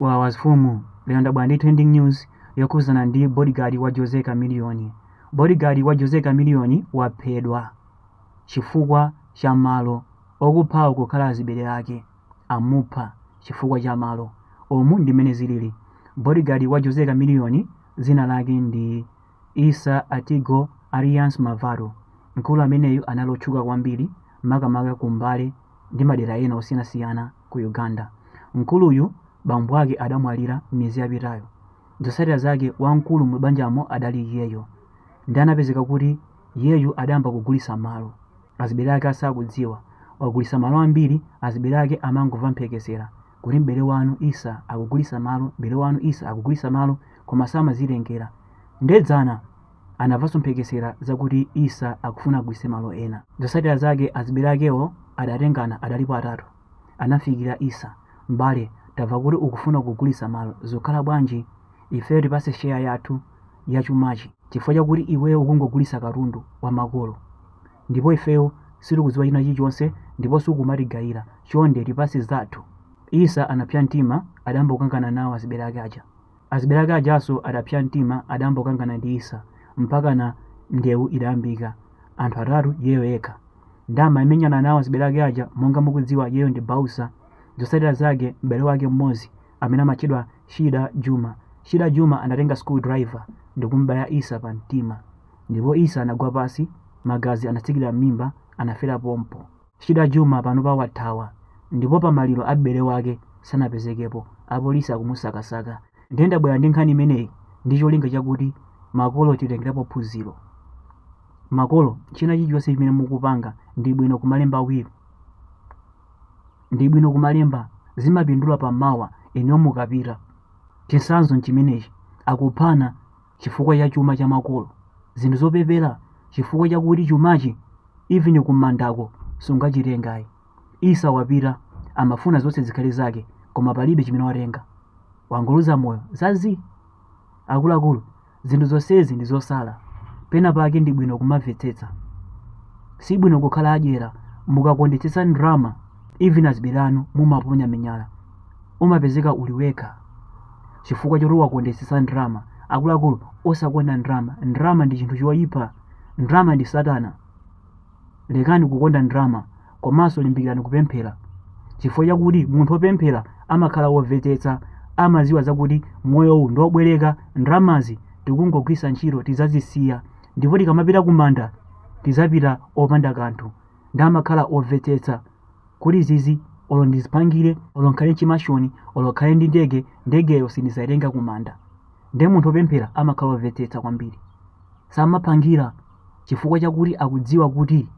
Wawa Mfumu lero ndabwera ndi trending news yokhudzana ndi bodyguard wa Jose Chameleone. Bodyguard wa Jose Chameleone waphedwa chifukwa cha malo. Okuphawo kukhala azibere ake amupha chifukwa cha malo. Umu ndi mmene zilili. Bodyguard wa Jose Chameleone dzina lake ndi Issa Atigo alias Mavado. Mkulu ameneyu anali otchuka kwambiri makamaka ku Mbale ndi madera ena osiyanasiyana. ku Uganda. Mkuluyu bambo ake adamwalira miyezi yapitayo. Zotsatira zake wamkulu mu banjamo adali iyeyo ndi anapezeka kuti iyeyu adayamba kugulitsa malo. Azibere ake asakudziwa. Wagulitsa malo ambiri azibere ake amangova mphekesera kuti m'bere wanu Issa akugulitsa malo, m'bere wanu Issa akugulitsa malo koma samazitengera. Nde dzana. Anamvanso mphekesera zakuti Issa akufuna agulitse malo ena. Zotsatira zake azibere akewo adatengana, adalipo atatu, anamfikira Issa. M'bale, tamva kuti ukufuna kugulitsa malo. Zikukhala bwanji? Ifeyo tipatse share yathu ya chumachi chifukwa chakuti iweyo ukungogulitsa katundu wa makolo ndipo ifeyo sitikudziwa china chilichonse ndipo sukumatigaila. Chonde tipatse zathu. Issa anapsa mtima, adayamba kukangana nawo azibere ake aja. Azibere ake ajanso adapsa mtima adayamba kukangana ndi Issa mpakana ndewu idayambika. Anthu atatu iyeyo yekha. Nde amamenyana nawo azibere ake aja monga mukudziwa iyeyo ndi bouncer. Zotsatira zake m'bere wake mmodzi amene amatchedwa Shida Juma. Shida Juma anatenga screw driver ndikumubaya Issa pa mtima. Ndipo Issa anagwa pansi magazi anatsikira mmimba anafera pompo. Shida Juma panopa wathawa ndipo pa maliro a m'bere wake sanapezekepo, apolisi akumusakasaka ndiye ndabwera ndi nkhani imeneyi ndi cholinga chakuti makolo titengerapo phunziro. Makolo china chilichonse chimene mukupanga ndi bwino kumalemba will. Ndi bwino kumalemba zimapindula pa mawa inuyo mukapita. Chitsanzo n'chimenechi, akuphana chifukwa cha chuma cha makolo, zinthu zopepera chifukwa chakuti chumachi even kumandako sungachitenge ayi. Issa wapita amafuna zonse zikhale zake koma palibe chimene watenga. Wangoluza moyo za zii. Akuluakulu, zinthu zonsezi ndi zosala. Pena pake ndi bwino kumamvetsetsa. Si bwino kukhala adyera mukakondetsetsa ndalama even azibere anu mumaponya minyala. Umapezeka uli wekha. chifukwa choti wakondetsetsa ndalama akuluakulu osakonda ndalama ndalama ndi chinthu choyipa ndalama ndi satana lekani kukonda ndalama komanso limbikirani kupemphera chifukwa chakuti munthu wopemphera amakhala womvetsetsa amaziwa zakuti moyo uwu ndi wobwereka ndalamazi tikungogwisa ntchito tizazisiya ndipo tikamapita kumanda tizapita opanda kanthu ndi amakhala omvetsetsa kuti izizi olo ndiziphangire olo nkhale chimashoni olo nkhale ndi ndege ndegeyo sindizaitenga kumanda nde munthu opemphera amakhala ovetsetsa kwambiri samaphangira chifukwa chakuti akudziwa kuti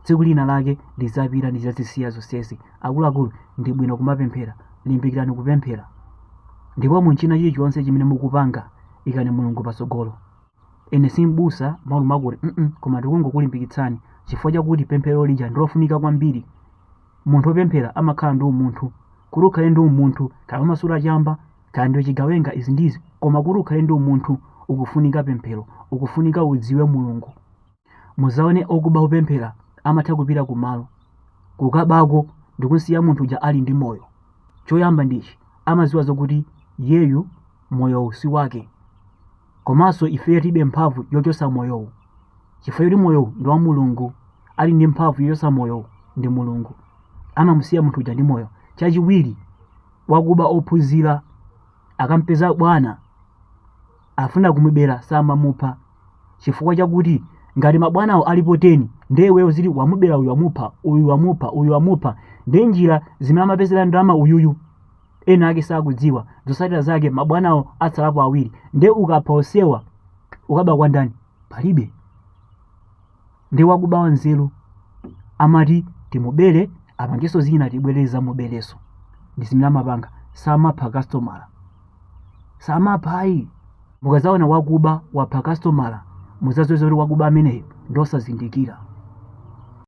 tsiku lina lake ndizapita ndizazisiya zonsezi akuluakulu ndi bwino kumapemphera limbikirani kupemphera ndipo mu china chilichonse chimene mukupanga ikani mulungu patsogolo Ine si m'busa akuluakulu koma ndikungokulimbikitsani chifukwa chakuti pemphero lija ndi lofunika kwambiri. Munthu wopemphera amakhala ndi umunthu. Kuti ukhale ndi umunthu kaya umasuta chamba kaya ndiwe chigawenga izi ndi izi koma kuti ukhale ndi umunthu ukufunika pemphero ukufunika udziwe Mulungu. Mudzaone okuba opemphera amatha kupita kumalo kukabako ndi kusiya munthu uja ali ndi moyo. Choyamba ndi ichi amadziwa zokuti iyeyu moyowu si wake. Komanso ifeyo tilibe mphamvu yochotsa moyowu chifukwa choti moyowu ndi wa Mulungu. Ali ndi mphamvu yochotsa moyowu ndi Mulungu. Amamusiya munthu uja ndi moyo. Chachiwiri, wakuba ophunzira akampeza bwana akufuna kumubera samamupha chifukwa chakuti ngati mabwanawo alipo 10 ndiye iweyo ziti wamubera uyu wamupha uyu wamupha uyu wamupha ndiye njira zimene amapezera ndalama uyuyu ena ake sakudziwa zotsatira zake mabwanawo atsalapo awiri nde ukapha onsewa ukaba kwa ndani palibe nde wakuba wanzeru amati timubere apangeso zina tibwere tizamubereso ndi zimene amapanga samapha kastomala samapha ayi mukazaona wakuba wapha kastomala muzaziwe zakuti wakuba ameneyo ndosazindikira